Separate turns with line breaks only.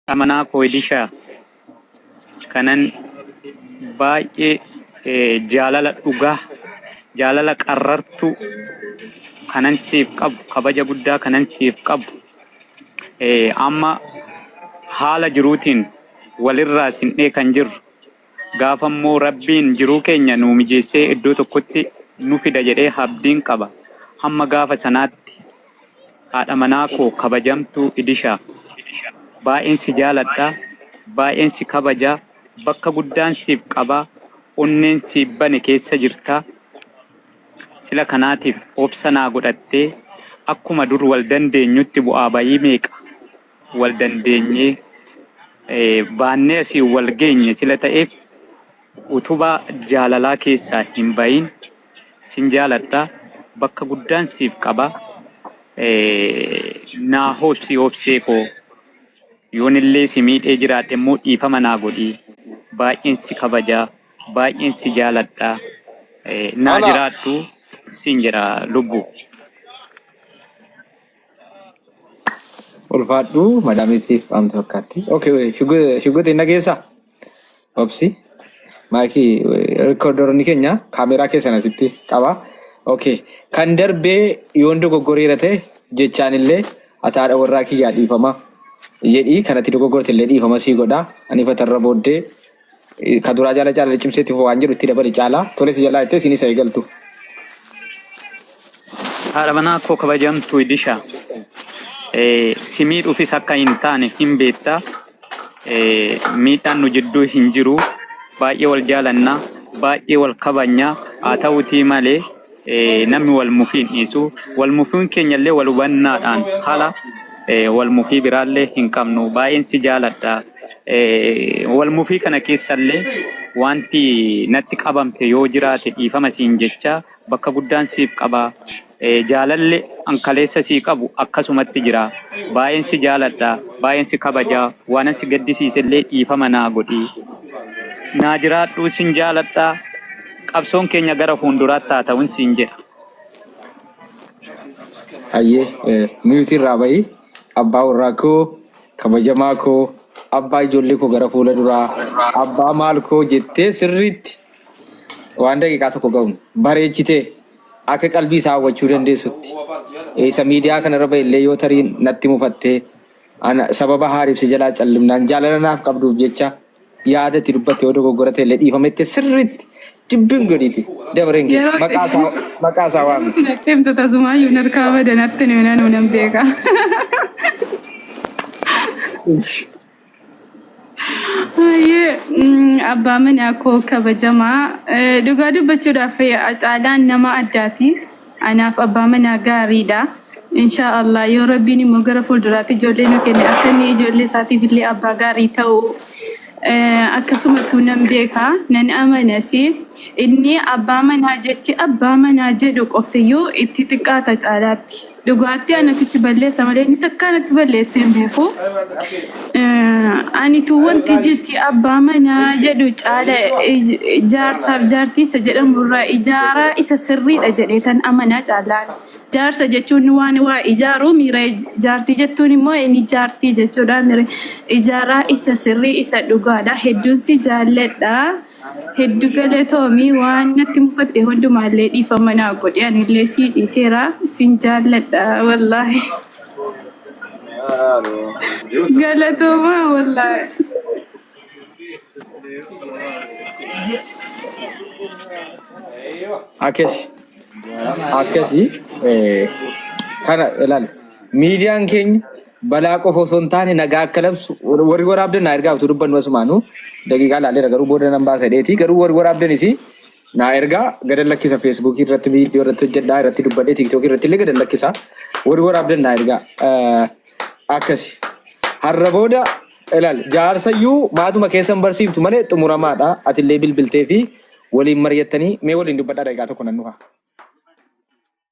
amanaa koo Ilishaa kanan baay'ee eh, jaalala dhugaa jaalala qarrartuu kanan siif qabu kabaja guddaa kanan siif qabu eh, amma haala jiruutiin walirraa sin dhee kan jirru Gaafa immoo Rabbiin jiruu keenya nuu mijeessee iddoo tokkotti nu fida jedhee habdiin qaba. Hamma gaafa sanaatti haadha manaa koo kabajamtuu Idisha baay'een si jaaladha, baay'een si kabaja, bakka guddaan siif qaba, onneen siif bane keessa jirta. Sila kanaatiif obsa naa godhattee akkuma dur wal dandeenyutti bu'aa ba'ii meeqa wal dandeenyee eh, baannee asii wal geenye sila ta'eef utubaa jaalalaa keessaa hin bahin sin jaaladha bakka guddaan siif qaba eh, naa hoobsi hoobsee koo yoonillee si miidhee jiraadhe immoo dhiifama naa godhi baay'een si kabaja baay'een si jaaladha eh, naa Ana. jiraadhu sin jedha lubbu.
Ulfaadhu madaamiitiif amti fakkaatti. Okay, shugguutiin nageessaa? Obsi. Maayikii rikoordaroonni keenya kaameeraa keessan asitti qaba. Okay. Kan darbee yoon dogoggoreera ta'e jechaan illee ataadha warraa kiyyaa dhiifama jedhii kanatti dogoggorte illee dhiifama sii godha. Ani fatarra booddee Ka duraa jaala caalaa cimsee tifuu waan jedhu itti dabali caalaa tole si jalaa jettee siin isa eegaltu.
Haadha manaa koo kabajamtuu Idisha eh, si miidhuufis akka hin taane hin beekta. Eh, miidhaan nu jidduu hin jiru. Baay'ee wal jaalanna, baay'ee wal kabajna. Haa ta'uutii malee eh, namni wal mufii hin dhiisu. Wal mufiin keenya illee wal hubannaadhaan haala eh, wal mufii biraallee hin qabnu. Baay'een si jaaladha. Walmufii kana keessallee wanti natti qabamte yoo jiraate dhiifama siin jechaa bakka guddaan siif qaba. Jaalalle an kaleessa sii qabu akkasumatti jira. Baay'een si jaaladha, baay'een si kabaja. Waanan si gaddisiisellee dhiifama naa godhi. Naa jiraadhu sin jaaladha. Qabsoon keenya gara fuulduraatti haa ta'un siin jedha.
Hayyee miyuutii irraa ba'i abbaa warraa koo Kabajamaa koo abbaa ijoollee koo gara fuula duraa abbaa maal koo jettee sirriitti waan daqiiqaa tokko ga'uun bareechitee akka qalbii isaa hawwachuu dandeessutti isa miidiyaa kanarra ba'e illee yoo tarii natti mufattee ana sababa haaribse jalaa callimnaan jaalala naaf qabduuf jecha yaada itti dubbatte yoo dogoggora ta'e illee dhiifama itti sirriitti dubbiin gadiiti dabareen kee Yeroo- maqaa isaa- maqaa isaa waami. Isin akkamtu tasumaa
yuun harkaa badan atti nuyi nanuu nan beeka. Hayyee mm, abbaa manaa koo kabajamaa Eh, dhugaa dubbachuudhaaf eh, caalaan nama addaati. Anaaf abbaa manaa gaariidha. Inshaa Allah yoo rabbiin immoo gara fuulduraatti ijoollee nu kenne akka inni ijoollee isaatiif illee abbaa gaarii ta'u eh, akkasumattuu nan beeka nan amanas inni abbaa manaa jechi abbaa manaa jedhu qoftiyyuu itti xiqqaata caalaatti. Dhugaatti anatu itti balleessa malee inni takkaa natti balleessee hin beeku. Anitu wanti jechi abbaa manaa jedhu caala jaarsaaf jaartiisa jedhamu irraa ijaaraa isa sirriidha jedhee tan amanaa caalaan. Jaarsa jechuun waan waa ijaaruu miira jaartii jettuun immoo inni jaartii jechuudha miira ijaaraa isa sirrii isa dhugaadha hedduun si jaalladha. Heddu galatoomi waan natti mufatte hundumaallee dhiifama naa godhi anillee sii dhiiseera sin jaalladha wallaahi galatooma wallaahi.
akkasi akkasi eh, kana ilaali miidiyaan keenya Balaa qofa osoo hin taane nagaa akka labsu warri waraabdan naa ergaa utuu dubbannu asumaanu daqiiqaa laaleera garuu booda nan baasa dheeti garuu warri waraabdanis naa ergaa gadan lakkisa feesbuukii irratti viidiyoo irratti hojjedhaa irratti dubbadhee tiiktookii irratti illee gadan lakkisa warri waraabdan naa ergaa Eh, akkasi har'a booda ilaal jaarsayyuu maatuma keessan barsiiftu malee xumuramaadha atillee bilbiltee fi waliin mari'attanii mee waliin dubbadhaa daqiiqaa tokko nan dhufa.